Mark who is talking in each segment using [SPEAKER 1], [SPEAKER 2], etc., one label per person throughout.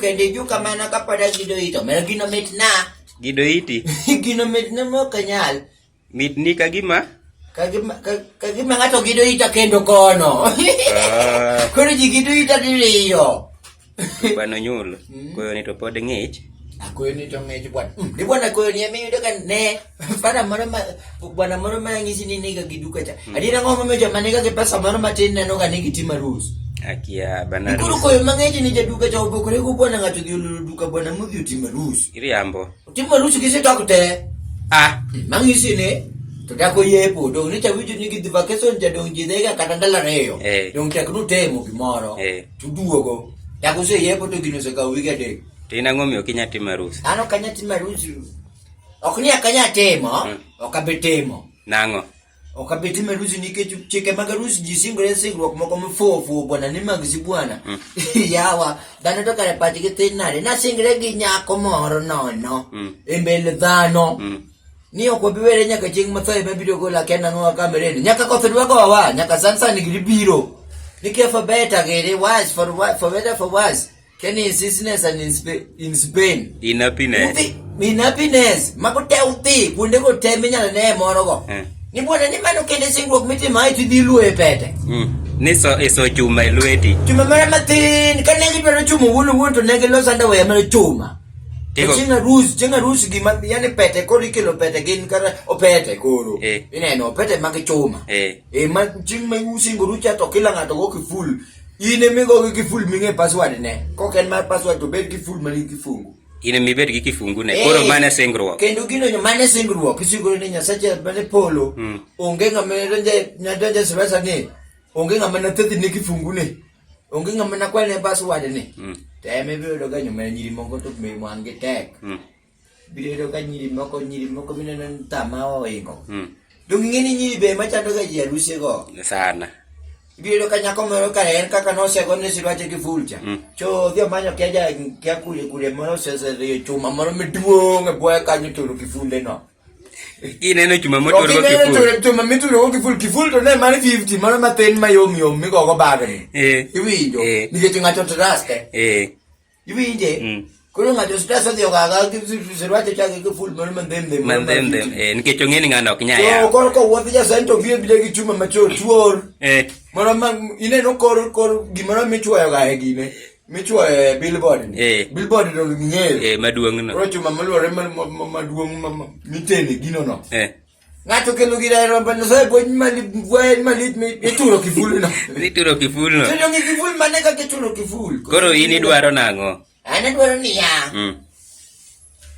[SPEAKER 1] kende juu kama nakapada gido ito. Meron ginomit na. Gido iti?
[SPEAKER 2] ginomit na
[SPEAKER 1] mo kanyal. Mitni ka
[SPEAKER 2] gima
[SPEAKER 1] ka gima ng'ato gido ita kendo kono. Ah. Koro ji gido ita diriyo. Bano
[SPEAKER 2] nyul. Hmm? Koyo ni to pod ng'ich. Akoyo ni to
[SPEAKER 1] ng'ich bwana. Hmm, ni bwana koyo ni emi yudo ka ne. Fara moro ma bwana moro ma ng'isi ni niga giduka cha. Hmm. Adira ng'o momiyo joma niga gi pesa moro matin neno ga ni gitima rules. Akia bana
[SPEAKER 2] rules. Koro koyo mang'ich ni
[SPEAKER 1] jaduka cha obokore go bwana ng'ato gi olulu duka bwana mudhi otima rules. Iriambo.
[SPEAKER 2] Timo lusu kisi tokte.
[SPEAKER 1] Ah,
[SPEAKER 2] mangi sini.
[SPEAKER 1] Tuta ko ye po dong ni chawi ni gi vacation ja dong ji dega kata dala reyo. Eh. Dong tek nu temo gimoro. Eh. Tu duogo. Ta ko se ye po to gino se ka wiga de. Tina ngomi okinya
[SPEAKER 2] timo harusi. Ano kanya timo harusi.
[SPEAKER 1] Ok ni akanya temo, mm. ok abetemo. Nango.
[SPEAKER 2] Ok abi timo
[SPEAKER 1] harusi nikech chike mag harusi ji singore singruok moko mifuwo fuwo bwana ni mag si bwana. Mm. Yawa, dhano to kare pachgi tin nade. Nasingre gi nyako moro nono mm. e mbele dhano. Mm. Ni ok wabi were nyaka chieng' matho ema biro gola kenda ng'owa kamereni. Nyaka koth dwa gowa, nyaka sansan giri biro. Nikech for better giri, worse for, for better for worse. Can you sickness and in Spain? In Spain. In happiness. Uthi, in happiness. Makote uthi, kunde ko te minyala ne moro go. Eh. Ni bwana ni mano kende singruok mitima iti dhi luo e pete. Mm. Ni so
[SPEAKER 2] iso e chuma e lweti. Chuma mara matin,
[SPEAKER 1] ka ne gidwaro chuma wuon wuon to ne giloso underwear mara chuma. Tigo. Chinga rus, chinga rus gima yani pete koro ikelo pete gin kata opete koro. Eh. Ineno opete mag chuma. Eh. Eh ma ching ma usingo rucha to kila ng'ato go kiful. in emigogi gi ful ming'e password ne kok en mar password to bed gi ful manigi kifungu in emibed gi
[SPEAKER 2] kifungu ne koro eh, mane singruok kendo gino mane
[SPEAKER 1] singruok isingoro ni nyasache mane polo hmm. onge ng'ama nadonje sibasa ni onge ng'ama nathedhi ne kifungu ne onge ng'ama nakwal ne password ne hmm. to ema ibiro yudo ka nyuma nyiri moko to wangi tek hmm. Biro yudo ka nyiri moko nyiri moko mineno ni tama oingo. Mm. Donge ing'e ni nyiri be ema chandoga ji e arusego? Sana.
[SPEAKER 2] Ibiro yudo ka
[SPEAKER 1] nyako moro ka en kaka nosego ni silwache gi fulcha. Mm. To odhi omanyo kia ja kia kule kule moro oseseriyo chuma moro maduong' e bwoye kanyo turo kifunde no. Kineno
[SPEAKER 2] chuma To moturo go kineno kiful. turo chuma mituro go kiful
[SPEAKER 1] kiful to ne mar 50 mano mathin mayom yom migogo bagni. Eh. Iwinjo Eh. nikech ng'ato traste. Eh. Iwinje? Mm. Koro ng'ato stress odhi ogaga gi sirwache chake gi full mano mandem dem. Mandem dem. Eh, nikech
[SPEAKER 2] ong'e ni ng'ano ok nya ya. To koro ko wuodh ja
[SPEAKER 1] sento biro bide gi chuma macho tuor. Eh. Moro ma ineno kor kor gimoro michuoyo ga e gine. Michuoyo e billboard ni. Eh. Billboard no ng'eyo. Eh, maduong' no. Koro chuma
[SPEAKER 2] maluore
[SPEAKER 1] maduong' mitene gino no. Eh. Ngato kelo gira ero bana so bwen mali bwen mali mi ituro kiful no. Ituro kiful no.
[SPEAKER 2] Tendo ngi kiful mane ka
[SPEAKER 1] kituro kiful. Koro ini dwaro
[SPEAKER 2] nango. Ana dwaro ni ya.
[SPEAKER 1] Mm.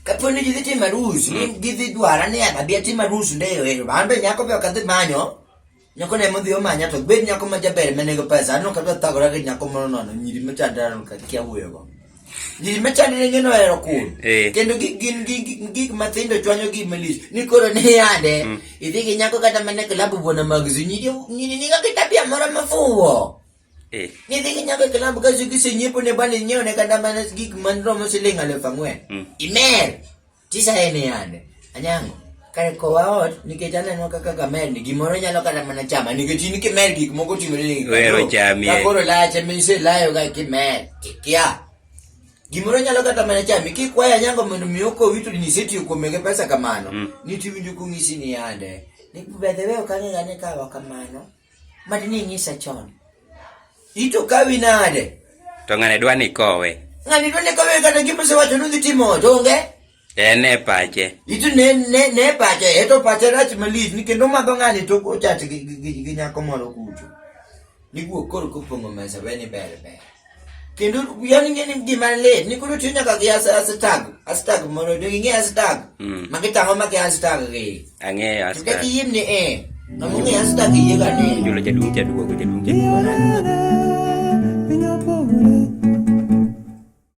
[SPEAKER 1] Kaponi gidhi timo arus, mm. gidhi dwara ni abi atimo arus ndeyo ero. An be nyako be ok adhi manyo. Nyako ne modhi omanya to bed nyako ma jaber ma nego pesa aneno ka thagora gi nyako moro nono nyiri ma chandra no ka kia wuyo go. Nyiri ma chandra ne ngeno ero kun. Eh. Kendo gik gin gik gik ma thindo chwanyo gi malis. Ni koro ne yade. Mm. Idhi gi nyako kata ma ne klabu bona mag zu nyiri nyiri ni ga kitabia moro ma fuwo. Eh. Ni dhi gi nyako e klabu ka zu gi senyiepo ne bani nyiewo ne kata ma gik man romo siling alif ang'wen. Mm. Imer. Tisa en yande. Anyango. Kare kowa ot nikech aneno kaka kamer ni gimoro nyalo kata mana chama nikech in kimer gik moko timore ni wero chami ka koro
[SPEAKER 2] lache mise
[SPEAKER 1] layo ga kimer tikia gimoro nyalo kata mana chami kik waya nyango mondo mi oko wito ni seti ko mege pesa kamano mm. ni tiwinjo kungisi ni yande ni bedhe wewe kanyo yane kawa kamano Mad ni inyisa chon. Ito kawi nade? To ng'ane dwa ni
[SPEAKER 2] kowe. Ng'ane dwa ni kowe kata
[SPEAKER 1] gima osewacho ni timo to onge. En e pache.
[SPEAKER 2] Ito ne
[SPEAKER 1] ne ne pache, eto pache rach malich ni kendo madho ng'ane to ochach gi nyako moro kucho. Niguo koro kopong'o mesa weni ber ber. kendo yani ng'e ni gima lit ni koro tiyo nyaka gi hashtag hashtag mondo do ging'e hashtag mm. ma gitang'o ma gi hashtag gi ang'eyo hashtag kaka
[SPEAKER 2] yim ni eh
[SPEAKER 1] ng'amo ng'e hashtag
[SPEAKER 2] yie
[SPEAKER 1] ga ni jolo jaduong' jaduogo jaduong' jaduogo